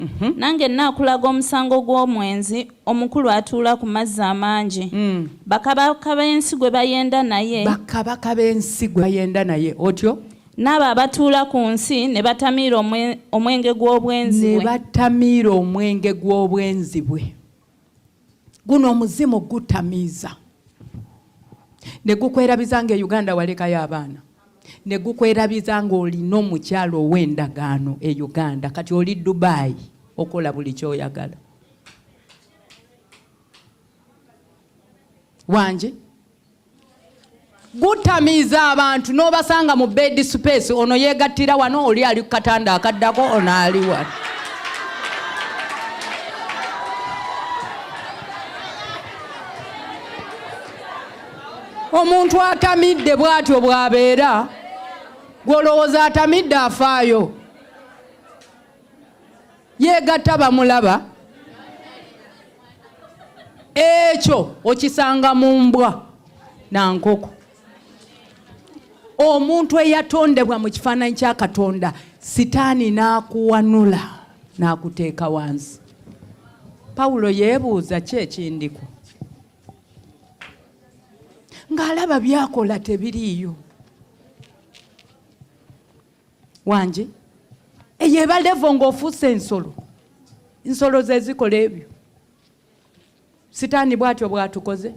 Mhm. nange naakulaga omusango gw'omwenzi omukulu atuula ku mazzi amangi mm. bakabaka b'ensi gwe bayenda naye bakabaka b'ensi gwe bayenda naye otyo n'abo abatuula ku nsi ne batamiira omwenge gw'obwenzi bwe ne batamiira omwenge gw'obwenzi bwe guno omuzimu gutamiiza ne gukwerabiza nga e Uganda walekayo abaana ne gukwerabiza nga olina omukyalo ow'endagaano e Uganda kati oli Dubai okola buli kyoyagala wangi gutamiiza abantu n'obasanga mu bed space ono yeegattira wano oli ali ku katanda akaddako ono ali wano omuntu atamidde bw'atyo bw'abeera gw'olowooza atamidde afaayo yeegatta bamulaba ekyo okisanga mu mbwa na nkoko omuntu eyatondebwa mu kifaananyi kya katonda sitaani n'akuwanula n'akuteeka wansi pawulo yeebuuza ki ekindiko ng'alaba byakola tebiriiyo wangi eyo eba levo ng'ofuuse ensolo nsolo ze zikola ebyo sitaani bwatyo bwatukoze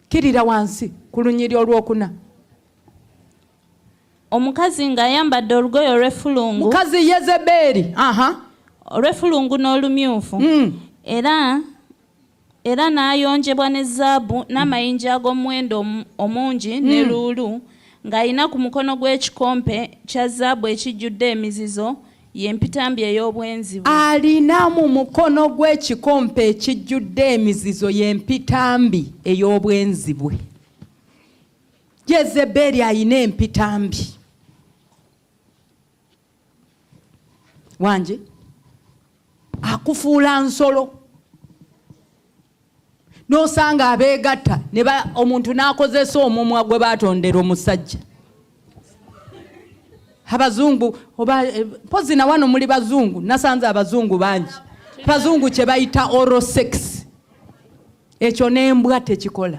kirira wansi ku lunyiri olwokuna omukazi ng'ayambadde olugoye olw'effulungu mukazi yezebeeri olw'effulungu n'olumyufu mm. era Era n'ayonjebwa ne zaabu n'amayinja ag'omuwendo omungi, ne luulu, ng'alina ku mukono gwe ekikompe kya zaabu ekijjudde emizizo, ye mpitambi ey'obwenzi bwe. Alina mu mukono gwe ekikompe ekijjudde emizizo, ye mpitambi ey'obwenzi bwe. Yezeberi alina empitambi. wangi akufuula nsolo n'osanga abeegatta ne omuntu n'akozesa omumwa gwe baatondera omusajja abazungu oba eh, mpozi na wano muli bazungu nasanze abazungu bangi bazungu kye bayita oro sex ekyo n'embwa tekikola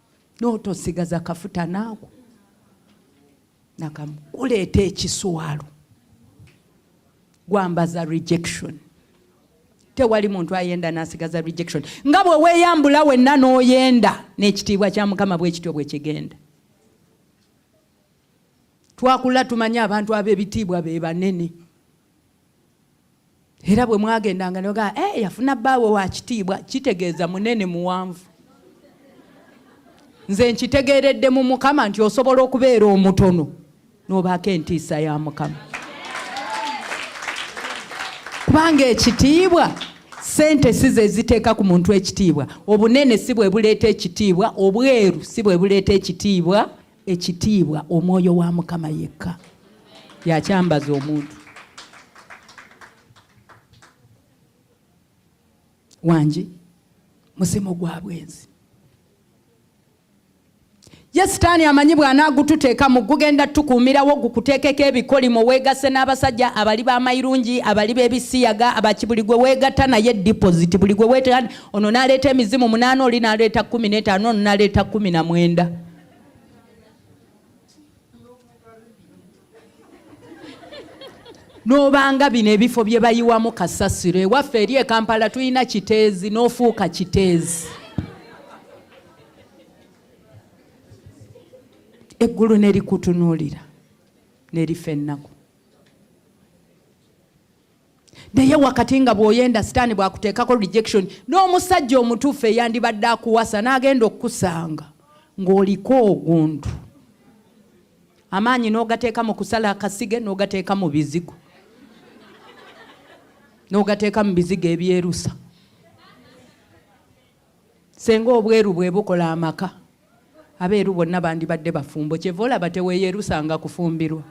n'otosigaza kafuta naako nakamu kuleeta ekiswalo gwambaza rejection tewali muntu ayenda nasigaza rejection nga bwe weeyambula wenna n'oyenda n'ekitiibwa kya mukama bwekityo bwe kigenda twakula tumanye abantu ab'ebitiibwa be banene era bwe mwagendanga nogaa e eh, yafuna bbaawe wa kitiibwa kitegeeza munene muwanvu nze nkitegeeredde mu mukama nti osobola okubeera omutono n'obaako entiisa ya mukama kubanga ekitiibwa sente si ze ziteeka ku muntu ekitiibwa obunene si bwe buleeta ekitiibwa obweru si bwe buleeta ekitiibwa ekitiibwa omwoyo wa mukama yekka yakyambaza omuntu wangi musimo gwa bwenzi ye sitaani amanyi bw'anaagututeeka mu gugenda tukuumirawo gukuteekeko ebikolimo weegase n'abasajja abali b'amayirungi abali b'ebisiyaga abaki buli gwe weegatta naye dipoziti buli gwe weeteeka ono n'aleeta emizimu munaana oli n'aleeta kkumi n'etaano ono n'aleeta kkumi na mwenda n'obanga bino ebifo bye bayiwamu kasasiro ewaffe eri e kampala tulina kiteezi n'ofuuka kiteezi eggulu ne likutunuulira ne lifa ennaku naye wakati nga bwoyenda sitaani bwakuteekako rejection n'omusajja omutuufu eyandibadde akuwasa n'agenda okukusanga ng'oliko ogundu amaanyi n'ogateeka mu kusala akasige n'ogateeka mu bizigo n'ogateeka mu bizigo ebyerusa senga obweru bwebukola amaka abeeru bonna bandibadde bafumbo kyeva olaba teweeyerusanga kufumbirwa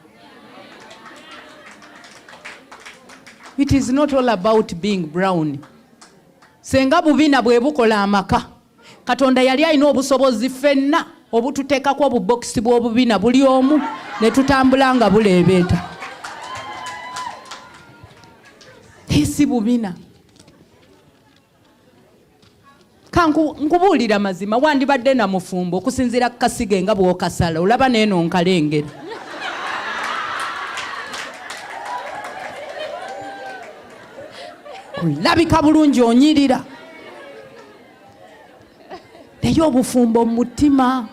it is not all about being brown senga bubina bwebukola amaka katonda yali alina obusobozi fenna obututeekako obubokisi bw'obubina buli omu ne tutambula nga buleebeeta si bubina kankubuulira mazima wandibadde na mufumbo okusinziira ku kasige nga bw'okasala olaba neeno nkalengera olabika bulungi onyirira naye obufumbo mu mutima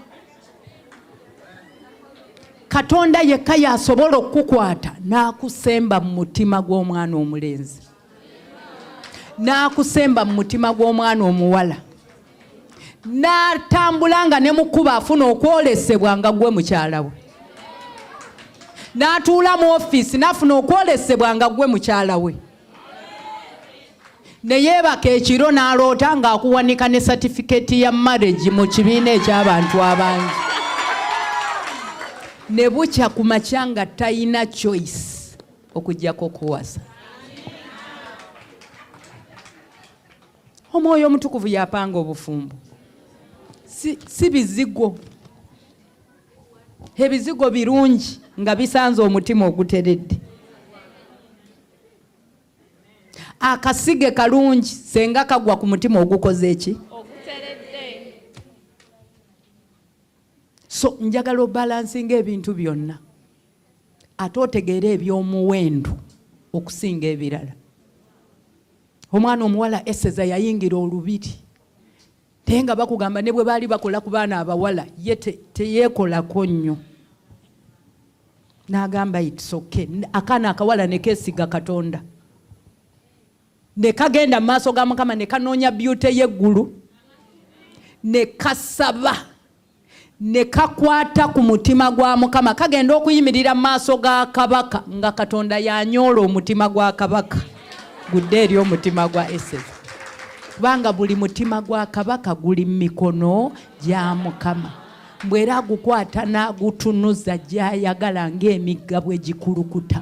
katonda yekka yasobola okukukwata n'akusemba mu mutima gw'omwana omulenzi n'akusemba mu mutima gw'omwana omuwala n'atambula nga ne mu kkubo afuna okwolesebwa nga gwe mukyala we n'atuula mu ofiisi n'afuna okwolesebwa nga gwe mukyala we ne yeebaka ekiro n'aloota ng'akuwanika ne satifikeeti ya marriage mu kibiina eky'abantu abangi ne bukya ku makya nga talina choice okujjako okuwasa omwoyo omutukuvu yapanga obufumbo si, si bizigo ebizigo birungi nga bisanze omutima oguteredde akasige kalungi senga kagwa ku mutima ogukoze eki so njagala obalansinga ebintu byonna ate otegeera ebyomuwendu okusinga ebirala omwana omuwala eseza yayingira olubiri naye nga bakugamba ne bwe baali bakola ku baana abawala ye teyeekolako nnyo n'agamba itsoke akaana akawala ne keesiga katonda ne kagenda mu maaso ga mukama ne kanoonya byute y'eggulu ne kasaba ne kakwata ku mutima gwa Mukama, kagenda okuyimirira mu maaso ga kabaka nga Katonda yanyoola omutima gwa kabaka gudde eri omutima gwa Eseza, kubanga buli mutima gwa kabaka guli mu mikono gya Mukama. Mbu era agukwata n'agutunuza gy'ayagala ng'emigga bwe gikulukuta.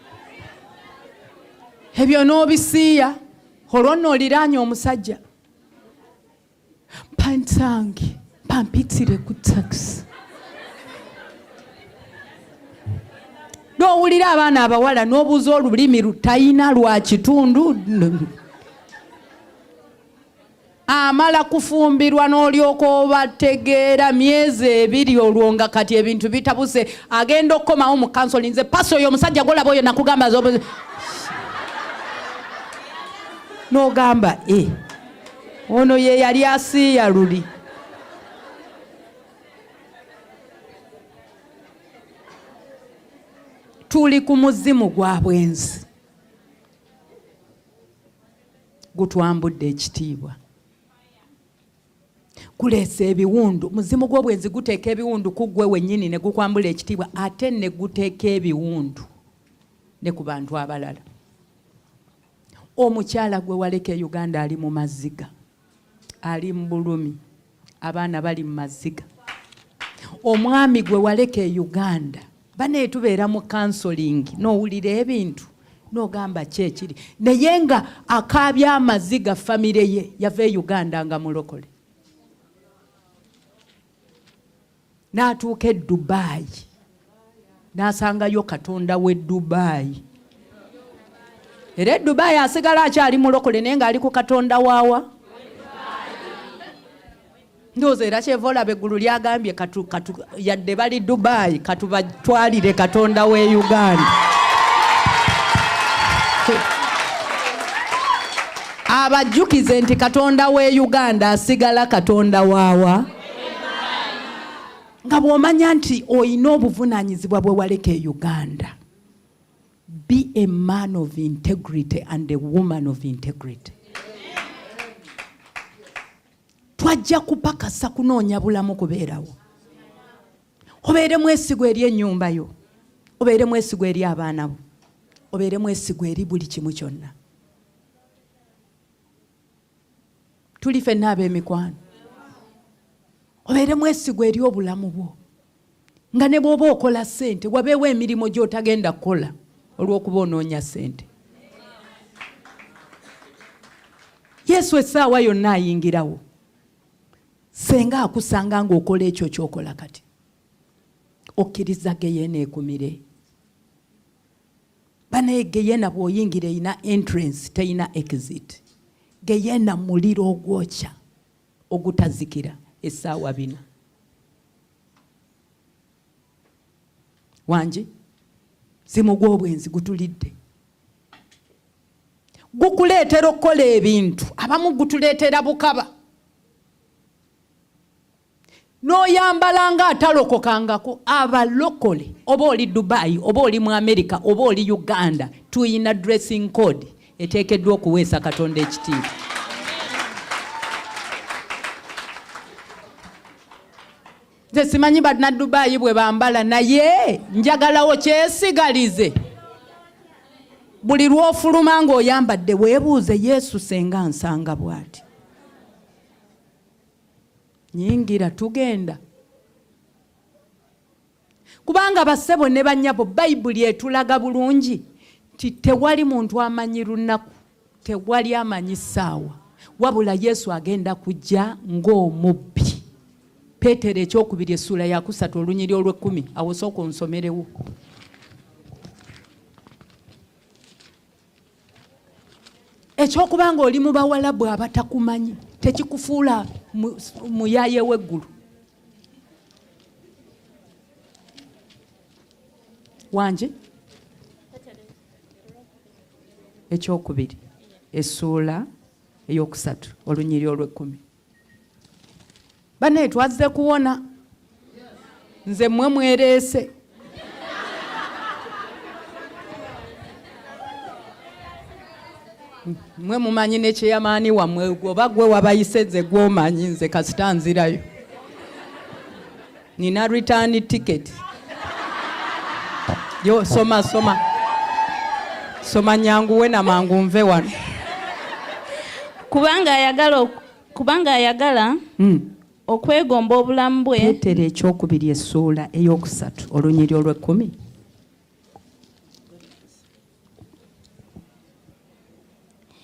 ebyo n'obisiiya olwo nno oliraanye omusajja pantange pampitire ku takisi n'owulira abaana abawala n'obuuza olulimi lutayina lwa kitundu amala kufumbirwa n'olyoka obategeera myezi ebiri olwo nga kati ebintu bitabuse agenda okukomawo mu kansoli nze pasi oyo omusajja golaba oyo nakugamba n'ogamba e ono ye yali asiiya luli tuli ku muzimu gwa bwenzi gutwambudde ekitiibwa kuleesa ebiwundu muzimu gw'obwenzi guteeka ebiwundu ku ggwe wennyini ne gukwambula ekitiibwa ate ne guteeka ebiwundu ne ku bantu abalala omukyala gwe waleka e uganda ali mu maziga ali mu bulumi abaana bali mu maziga omwami gwe waleka e uganda banaye tubeera mu kansolingi nowulira ebintu nogamba kyekiri naye nga akaabya amaziga famire ye yava e uganda nga mulokole n'atuuka e dubaayi n'asangayo katonda w'e dubaayi era e dubaayi asigala akyali mulokole naye ng'ali ku katonda waawa ndowooza era kyeva olaba eggulu lyagambye yadde bali dubaayi katubatwalire katonda w'e uganda abajjukize nti katonda w'e uganda asigala katonda waawa nga bw'omanya nti olina obuvunaanyizibwa bwe waleka e uganda be a man of integrity and a woman of integrity twajja kupakasa kunoonya bulamu kubeerawo obeere mwesigwa eri ennyumba yo obeere mwesigwa eri abaana bo obeere mwesigwa eri buli kimu kyonna tuli fenna ab'emikwano obeere mwesigwa eri obulamu bwo nga ne bw'oba okola ssente wabeewo emirimu gy'otagenda kukola olw'okuba onoonya ssente yesu essaawa yonna ayingirawo senga akusanga ng'okola ekyo kyokola kati okkiriza geyeena ekumire banaye geyena bwoyingira erina entrance terina exit geyena muliro ogwokya ogutazikira esaawa bina wangi simu gwobwenzi gutulidde gukuleetera okukola ebintu abamu gutuleetera bukaba noyambala nga atalokokangako abalokole oba oli dubai oba oli mu america oba oli uganda tuyina dressing code eteekeddwa okuweesa katonda ekitiibwa nze simanyi banadubaayi bwe bambala naye njagalawo kyesigalize buli lwofuluma ng'oyambadde weebuuze yesu senga nsanga bwati nyingira tugenda kubanga basebo ne banyabo bayibuli etulaga bulungi nti tewali muntu amanyi lunaku tewali amanyi saawa wabula yesu agenda kujja ng'omubbi peetero ekyokubiri essuula yakusatu olunyiri olw'ekkumi awosooka onsomerewo ekyokuba nga oli mu bawalabu abatakumanyi tekikufuula muyaye weggulu wangi ekyokubiri essuula eyokusatu olunyiri olwekkumi banaye twazze kuwona nze mwe mwereese mwe mumanyi nekyeyamaani wamwe oba gwe wabayise nze gwomanyi nze kasita nzirayo nina return ticket yo soma soma soma nyangu wena mangu nve wano kubanga ayagala kubanga ayagala mm. okwegomba obulamu bwe petero ekyokubiri essuula eyokusatu olunyiri olwekkumi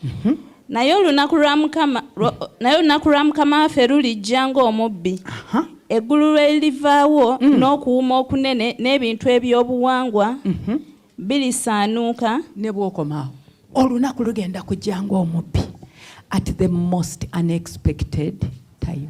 Mhm. naye olunaku lwa mukama naye olunaku lwa mukama waffe lulijja ng'omubbi eggulu lwe lirivaawo mm. n'okuwuma okunene n'ebintu ebyobuwangwa mhm. birisaanuuka ne bwokomaawo olunaku lugenda kujja ng'omubbi at the most unexpected time